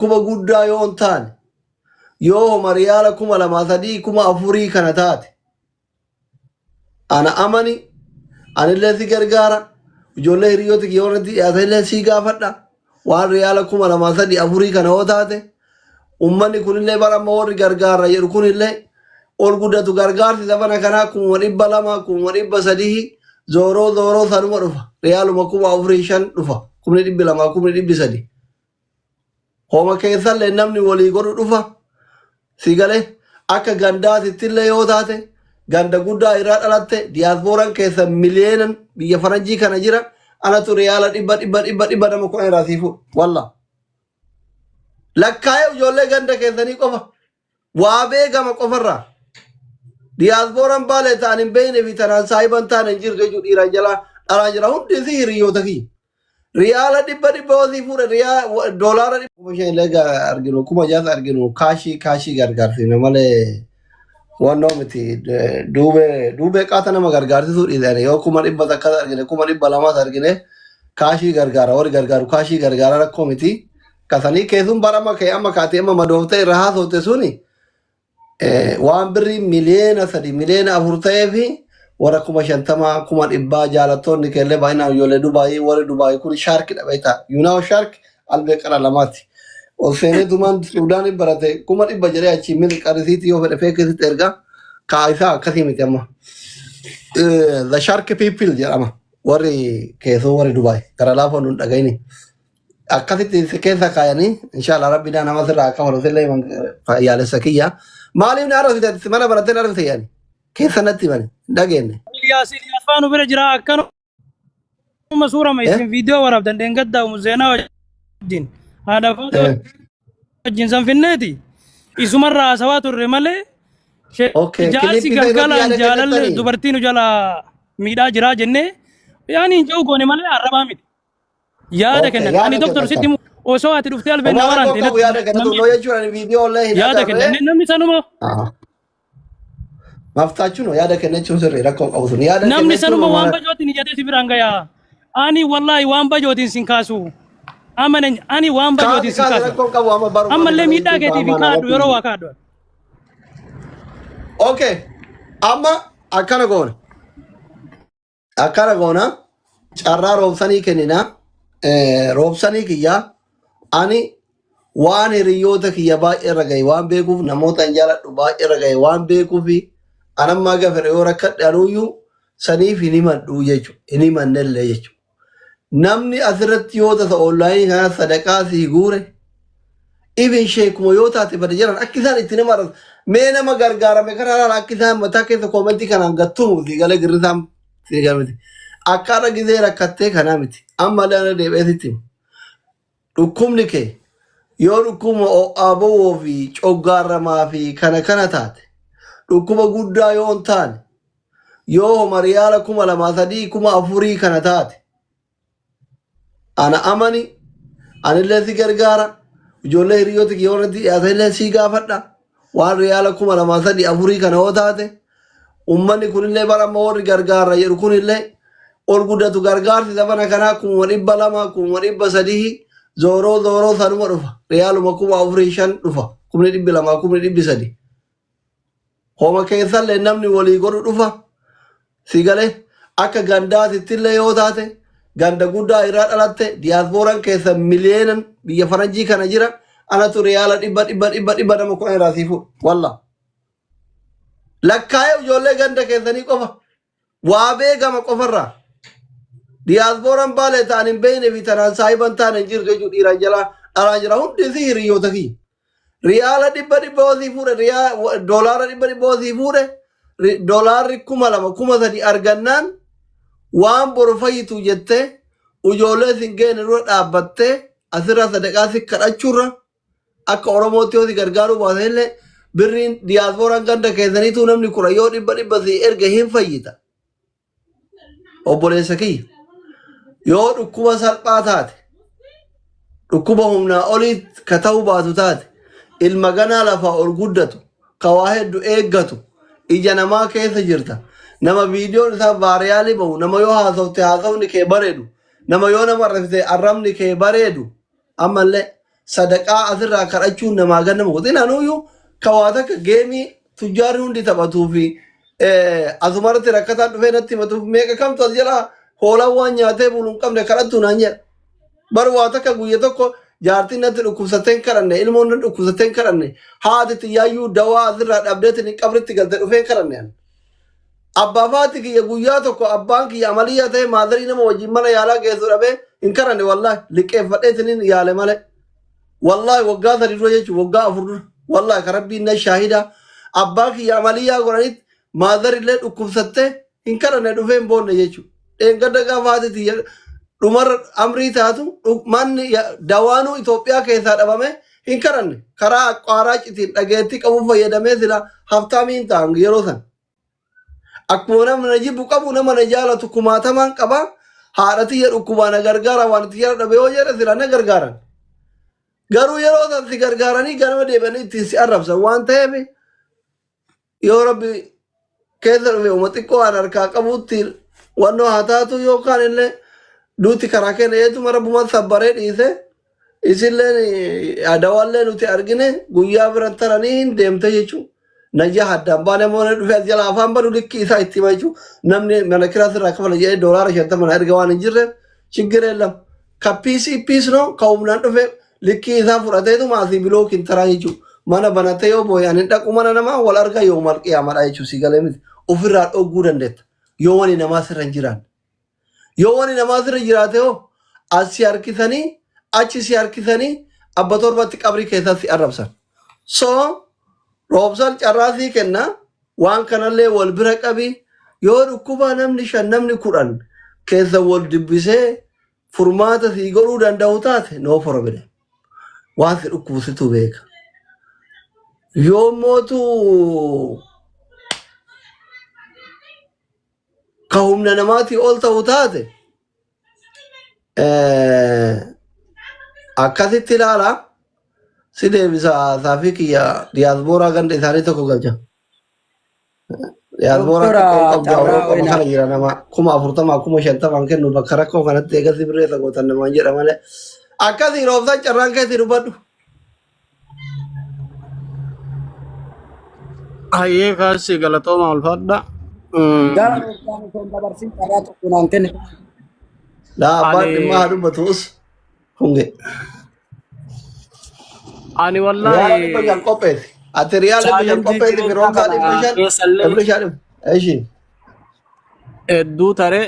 dhukkuba guddaa yoo hin taane yoo homa riyaala kuma lamaa sadii kuma afurii kana taate ana amani anillee si gargaara ijoollee hiriyoota kiyya warratti dhiyaatanillee si gaafadha waan riyaala kuma lamaa sadii afurii kana yoo taate ummanni kunillee bara amma warri gargaara jedhu kunillee ol guddatu gargaarsi sabana kanaa kuma dhibba lama kuma dhibba sadii zooroo zooroo sanuma dhufa riyaaluma kuma afurii shan dhufa kumni dhibbi lamaa kumni dhibbi sadii Homa keessallee namni wolii godhu dhufa. Si gale? Akka gandaatittillee yoo taate ganda guddaa irraa dhalatte diyaaspooran keessa miliyeenan biyya faranjii kana jira. Anatu riyaala dhibba dhibba dhibba dhibba nama kudhan irraa sii fuudha. Wallah. Lakkaa'ee ijoollee ganda keessanii qofa Waa beekama qofarraa. Diyaaspooraan baalee ta'an hin beekne fi tanaan saahiba hin taane hin jirtu jechuudha dhiiraan jalaa dhalaan jira hundi isii hiriyoota kiyya. Riyaala dhibba dhibba osii fuudhe riyaa doolaara dhibba. Kuma shan illee arginu kuma jaas arginu kaashii kaashii gargaarsiifne malee wannoo miti duubee duubee qaata nama gargaarsisuu dhiisanii yoo kuma dhibba takkas argine kuma dhibba lamas argine kaashii gargaara warri gargaaru kaashii gargaara rakkoo miti Ka sanii keessuun barama kee amma kaatee amma madoofte irra haasofte suni eh, waan birrii miliyeena sadi miliyeena afur ta'ee fi warra kuma shantamaa kuma dhibbaa jaalattoonni keellee baay'inaan ijoollee Dubaayii warri Dubaayii kun shaarki dha beektaa. Yuunaawo shaarki albee qara lamaati. Ol seenee tumaan Suudaanii barate kuma dhibba jedhee achii mili qarisiitti yoo fedhe feekisitti ergaa kaa isaa akkasii miti amma. Eh, The Shark People jedhama. Warri keessoo warri Dubaay gara laafaa nun dhagayini. akkasitti si keessa kaayanii inshallah rabbi naa nama sirraa akka falu sillee man fayyaalessa kiyya maaliif na arrasite ati mana barattee na arrasite yaani keessa natti mani hin dhageenne Yaasin afaan bira jira akkanuma suurama eh isin viidiyoo waraabdan dheengaddaa umu seenaa wajjin haadha faatoo eh wajjin san finneeti isumarraa haasawaa turre malee she- okay jaarsi kilippii ta'e irratti galgalaan yaada jaalalli kennattanii dubartii nu jalaa miidhaa jiraa jennee yaani hin jiru goone malee arrabaa miti. Yaada Okay, kennan. yaada Ani doktor kennan sitti kan. himu osoo ati dhuftee albeen na Waan waraante rakkoo qabu yaada kennatu namni noo jechuun ani viidiyoo illee hin yaada kennan. agarre. Inni Namni sanuma Maftaachuun yaada kennachuun sirrii rakkoo qabu sun yaada namni kennachuun sanuma waan waan bajootiin jedhee si biraan gayaa. Ani wallaahi waan bajootiin sin kaasu. Amanan ani waan kaati bajootiin sin kaati kaasu. rakkoo qabu amma baruu Ammallee malee miidhaa keetiif hin kaadhu yeroo waa kaadhu. Okay, amma akkana goona. Akkana goona carraa roobsanii kennina. Eh, Roobsanii kiyya ani waan hiriyoota kiyya baay'ee irra gahe waan beekuuf namoota hin jaaladhu baay'ee irra gahe waan beekuuf anammaa gafere yoo rakkadhe anuuyyuu saniif hin himadhu jechuudha. Hin himannellee jechuudha. Namni asirratti yoo tasa onlaayinii kana sadaqaa sii guure Even sheekuma yoo taate bada jiran akka isaan itti nama arrabsu. Mee nama gargaarame kana laala akka isaan mataa keessa koomentii kanaan gattumu si galee girrisaan si jaa miti. Akka har'a gizee rakkattee kanaa miti. Amma illee irra deebi'ee sitti hima. Dhukkubni kee yoo dhukkuba ho'aa bowwoo fi coggaarramaa fi kana kana taate dhukkuba guddaa yoo hin taane yoo homa riyaala kuma lamaa sadii kuma afurii kana taate ana amani anillee si gargaara ijoollee hiriyoota kiyya warratti dhiyaatanillee sii gaafadha waan riyaala kuma lamaa sadii afurii kana yoo taate ummanni kunillee bara amma warri gargaara jedhu kunillee ol guddatu gargaarsi sabana kanaa kuma dhibba lama kuma dhibba sadii zooroo zooroo sanuma dhufa riyaaluma kuma afurii shan dhufa kumni dhibbi lamaa kumni dhibbi sadii Homa keessallee namni wolii godhu dhufa. Si gale? Akka gandaatittillee yoo taate, ganda guddaa irraa dhalatte, diyaasbooran keessan miliyeenan biyya faranjii kana jira, anatu riyaala dhibba dhibba dhibba dhibba nama kudhan irraa sii fuudha. Wallah. Lakkaa'ee ijoollee ganda keessanii qofa Waa beekama qofarraa. Diyaaspooraan baalee ta'an hin beekne fi tanaan saahiba hin taane hin jirtu jechuun dhiiraan jalaa alaa jira. Hundi isii hiriyoota kiyya. Riyaala dhibba dhibba osii fuudhe, riyaa- wa- doolaara dhibba dhibba osii fuudhe, ri- doolaarri kuma lama kuma sadi argannaan waan boru fayyitu jettee ijoollee sin geenne dura dhaabbattee asirraa sadaqaa si kadhachuurra Akka Oromootti yoo si gargaaruu baatan illee birriin diyaaspooraan ganda keessaniituu namni kudha yoo dhibba dhibba si erge hin fayyita. Obboleessa kiyya yoo dhukkuba salphaa taate dhukkuba humnaa olii ka ta'uu baatu taate ilma ganaa lafaa ol guddatu ka waa heddu eeggatu ija namaa keessa jirta nama viidiyoon isaa vaariyaalii ba'u nama yoo haasofte haasofni kee bareedu nama yoo nama arrabsite arrabni kee bareedu Ammallee sadaqaa asirraa kadhachuun namaa gad nama godhin anuuyyuu ka waa takka geemii tujjaarri hundi taphatuu fi asumarratti rakkataan dhufee natti himatuuf meeqa kamtu as jala hoolaan waan nyaatee bulu hin qabne kadhattu naan jedha. Bar waa takka guyya tokko jaartiin natti dhukkubsattee hin kadhanne ilmoon natti dhukkubsattee hin kadhanne haati tiyyaayyuu dawaa asirraa dhabdeetiin qabritti galte dhufee hin kadhanne ani. Abbaaf haati kiyya guyyaa tokko abbaan kiyya amaliyyaa ta'ee maadarii nama wajjin mana yaalaa geessu dhabee hin karanne wallaahi liqqeeffadheetiniin yaale malee. Wallaahi waggaa sadi dura jechuun waggaa afur dura wallaahi ka rabbiin na shaahida abbaa kiyya amaliyyaa godhanitti maadarillee dhukkubsattee hin karanne dhufee hin boonne jechuudha. Dheengadda gafaati tiyya dhumarra amrii taatu dhu- manni ya- dawaanuu Itoophiyaa keessaa dhabame hin karanne karaa aqwaaraa citiin dhageettii qabu fayyadamee sila haftaamii hin ta'an yeroo san. Akkuma nama na jibbu qabu nama na jaalatu kumaatamaan qaba haadha tiyya dhukkubaa na gargaara waan itti jala dhabe yoo jedhe sila na gargaaran. Garuu yeroo san si gargaaranii ganama deebi'anii ittiin si arrabsan waan ta'eef yoo rabbi keessa dhufe uma xiqqoo an harkaa qabuutti wannoo haa taatu yookaan illee duuti karaa keenya eetuma rabbumaan sabbaree dhiise isilleen adawallee nuti argine guyyaa biran taranii hin deemte jechuun najaa addaan baanee moonee dhufe as jala afaan badu likki isaa itti hima jechuun namni mana kiraas irraa kafala jedhee doolaara shantama na erga waan hin jirreef shiggiree lama ka piisii piisnoo ka humnaan dhufe Likkii isaa fudhateetuma asii biloo kintaraa jechuun mana banatee yoo boo'e ani dhaqu mana namaa wal argaa yoo mal qiyaamadha jechuun si galee miti ofirraa dhogguu dandeetta yoo wani namaa sirra hin jiraanne. Yoo wani namaa sirra jiraate hoo as si harkisanii achi si harkisanii abba torbatti qabrii keessaa si arrabsan. So roobsan carraa sii kenna waan kanallee wal bira qabi yoo dhukkuba namni shan namni kudhan keessa wal dubbisee furmaata sii godhuu danda'u taate no problem. Waan si dhukkubu situ beeka. Yoo mootu ka humna namaatii ol ta'u taate eh, akkasitti ilaala si deebisa saafii kiyya diyaaspooraa ganda isaanii tokko galcha. Diyaasboora Doktara xiqqoon qabdu Carraa Awurooppaa Wayinaa. kana jira nama kuma afurtamaa kuma shantamaan kennu bakka rakkoo kanatti eegasii birreessa gootan namaan jedha malee. Akkasii roobsaan carraan keessi dubbadhu. Hayyee kaassi galatooma ulfaadha. Gara roobsaan osoo hin dabarsin carraa tokko naan kenne. Daa abbaan Ani dhimmaa haa dubbatuus. Hunge. Ani Riyaala wallaahi dhibba shan qopheessi. Ati riyaala dhibba shan chaalenjii qopheessi fi jireenyaa roonkaa kana dhibba shan keessallee dhibba shan dhibba. Eshi. hedduu tare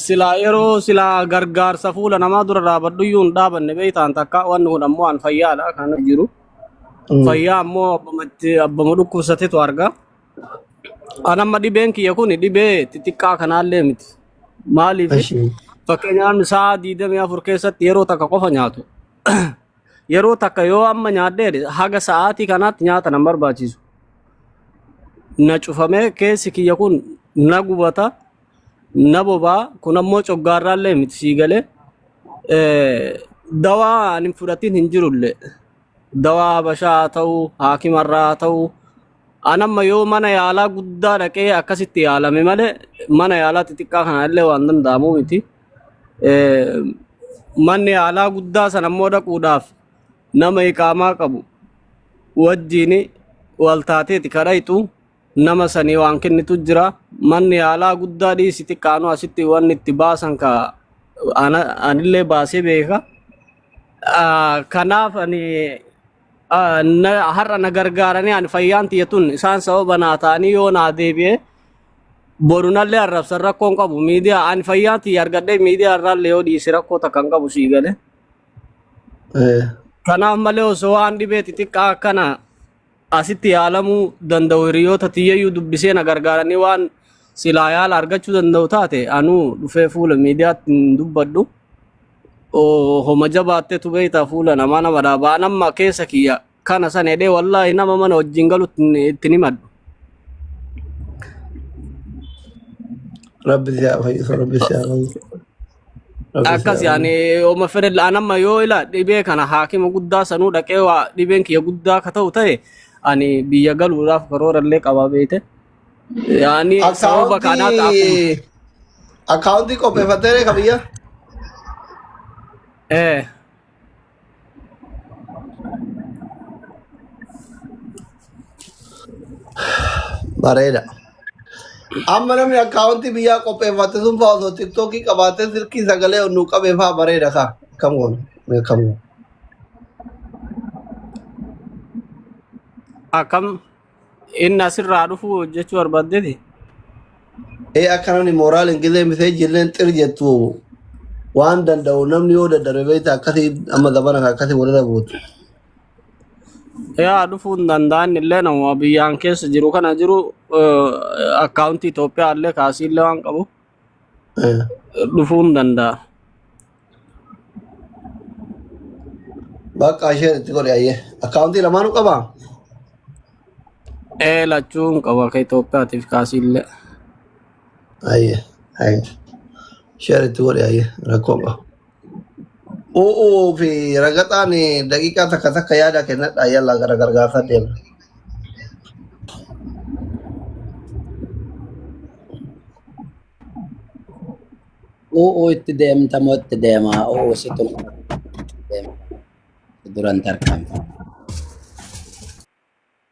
silaa yeroo silaa gargaarsa fuula namaa dura dhaabadhu iyyuu hin dhaabanne beektaan takka wanni kun ammoo an fayyaadha kan jiru. Fayyaa ammoo abbamatti abbama dhukkubsatetu arga. An amma dhibeen kiyya kun dhibee xixiqqaa kanaallee miti. Maaliif? Ashi. Fakkeenyaaf sa'a 24 keessatti yeroo takka qofa nyaatu. Yeroo takka yoo amma nyaadhee haga sa'aatii kanaatti nyaata nan barbaachisu. Na cufamee keessi kiyya kun na gubata, na bobaa, kun ammoo coggaarraallee miti sii galee. Eh, Dawaa ani hin fudhatin hin jirullee. Dawaa habashaa haa ta'u, haakimarraa haa ta'u, An amma yoo mana yaalaa guddaa dhaqee akkasitti yaalame malee mana yaalaa xixiqqaa kana illee waan danda'amu miti. Eh, Manni yaalaa guddaa sana immoo dhaquudhaaf nama iqaamaa qabu wajjiin wal taateeti kadhayxu nama sanii waan kennitu jira. Manni yaalaa guddaa dhiisi xiqqaanu asitti wanni itti baasan ka ana- anillee baasee beeka. Ah, Kanaaf ani Ah, na- har'a na gargaaranii ani fayyaan tiyya tun isaan sababa naa ta'anii yoo naa deebi'e borunallee arrabsan rakkoon qabu miidiyaa ani fayyaan tiyya argadhee miidiyaa irraallee yoo dhiise rakkoo takka hin qabu sii galee. Eh, Kanaaf malee osoo waan dhibee xixiqqaa akkana asitti yaalamuu danda'u hiriyoota tiyyayyuu dubbisee na gargaaranii waan silaa yaala argachuu danda'u taate anuu dhufee fuula miidiyaatti hin dubbadhu. Oh, homa jabaattetu beektaa fuula namaa nama dhaaba. An amma keessa kiyya kana san jedhee wallaahi nama mana wajjin galutti hin- itti hin himadhu. Rabbi si haa fayyisu, Rabbi si haa fayyisu, Rabbi si Akkas haa yaani fayyisu. homa fedhe an amma yoo ila dhibee kana haakima guddaa sanuu dhaqee waa dhibeen kiyya guddaa akka ta'u ta'e ani biyya galuudhaaf karoora illee qabaa beekte. Yaani sababa kanaa akkuma Akkaawuntii akkaawuntii qopheeffattee reeka biyya? eh Bareeda. Amma namni akkaawuntii biyyaa qopheeffatte sun fa'aa osoo tiktookii qabaattee silkii sagalee onnuu qabee fa'aa bareeda kaa. Akkam goona? Mee akkam goona? akkam Inni asirraa dhufu hojjechuu barbaaddeeti. Ee akka namni mooraal hin gizee misee jirreen xir jettu waan danda'u namni yoo dadhabe beekta akkasii amma zabana kan akkasii walirra buutu. Yaa dhufuu hin danda'an illee nama biyyaan keessa jiru kana jiru akkaawuntii Itoophiyaa illee kaasii illee waan qabu. Eh, dhufuu hin danda'a. Bakka isheen itti godhe ayyee. Akkaawuntii lamaanuu qabaa? Ee lachuu hin qabu akka Itoophiyaatiif kaasiillee. Ayyee. Ayyee. Isheen itti godhe ayyee. Rakkoo hin qabu. U'uu fi ragaxaan daqiiqaa takka takka yaada kennadha yalla gara gargaarsaa deema. U'uu itti deemta moo itti deema? U'uu situ na deema. Duran tarkaanfa.